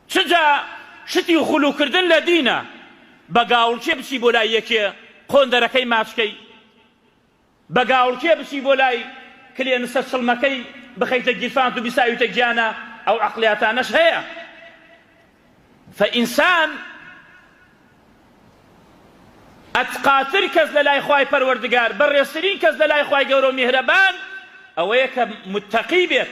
چ جا شتی خلو کردن لە دینە بە گاوڵکێ بچی بۆ لای یەکێ قۆندەرەکەی ماچ کەی بە گاوڵکێ بچی بۆ لای کلێنسە چڵمەکەی بخەیتە گیرفانت و بیساویتە گیانە ئەو عەقلیاتانەش هەیە فئینسان ئەتقاتر کەس لە لای خوای پەروەردگار بەڕێزترین کەس لە لای خوای گەورە و میهرەبان ئەوەیە کە متەقی بێت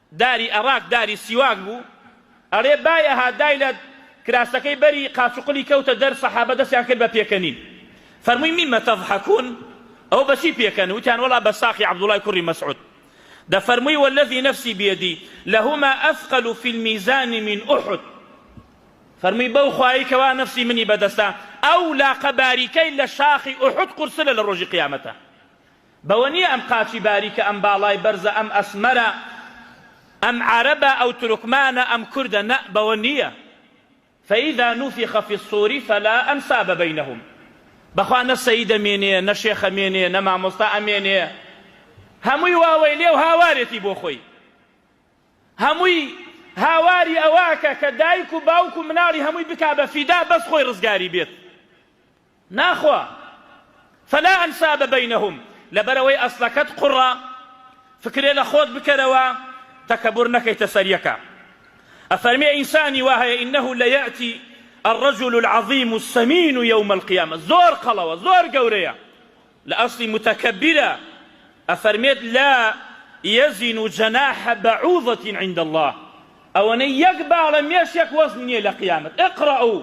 داری ئەڕاک داری سیواک بوو ئەرێ بای ئەها دای لە کراسەکەی بەری قاچ و قلی کەوتە دەر سەحابە دەستیان کرد بە پێکەنین فەرمووی مما تضحکون ئەوە بەچی پێکەن وتیان وەڵا بە ساقی عەبدوڵای کوڕی مەسعود دەفەرمووی والذی نفسی بیدی لهما اثقل فی المیزان من احد فەرمووی بەو خوایی کەوا نفسی منی بەدەستە ئەو لاقە باریکەی لە شاخی احد قورسرە لە ڕۆژی قیامەتە بەوە نیە ئەم قاچی باریکە ئەم باڵای بەرزە ئەم ئەسمەرە ئەم عەرەبە ئەو تورکمانە ئەم کوردە نە بەوە نیە فاذا نفخ فی الصور فلا انساب بینهم بەخوا نە سەیدە مێنێە نە شێخە مێنێە نە مامۆستا ئەمێنێە هەمووی واوەیلێ و هاوارێتی بۆ خۆی هەمووی هاواری ئەوەکە کە دایک و باوک و مناڵی هەمووی بکا بە فیدا بەس خۆی ڕزگاری بێت. ناخوا فلا انساب بینهم لەبەرئەوەی ئەسڵەکەت قوڕە فکرێ لەخۆت بکەرەوە تەکەبور نەکەیتە سەر یەکا ئەفەرمێ ئینسانی وا هەیە انه لیاتی الرجل العظیم السمین یوم القیامە زۆر قەڵەوە زۆر گەورەیە لە ئەسڵی متەکەبیرە ئەفەرمێت لا یزن جناح بعوضة عند الله ئەوەنەی یەک باڵە مێشێک وەزنی نیە لە قیامەت اقرؤ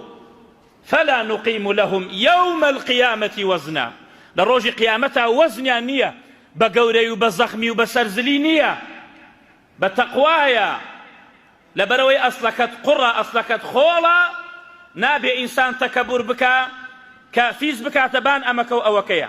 فلا نقیم لهم یوم القیامە وزنا لە ڕۆژی قیامەتا وەزنیان نیە بە گەورەی و بە زەخمی و بە سەرزلی نیە بە تەقوایە لەبەرەوەی ئەسڵەکەت قوڕە ئەسڵەکەت خۆڵە نابێ ئینسان تەکەبور بکا کە فیز بکاتە بان ئەمەکەو ئەوەکەیە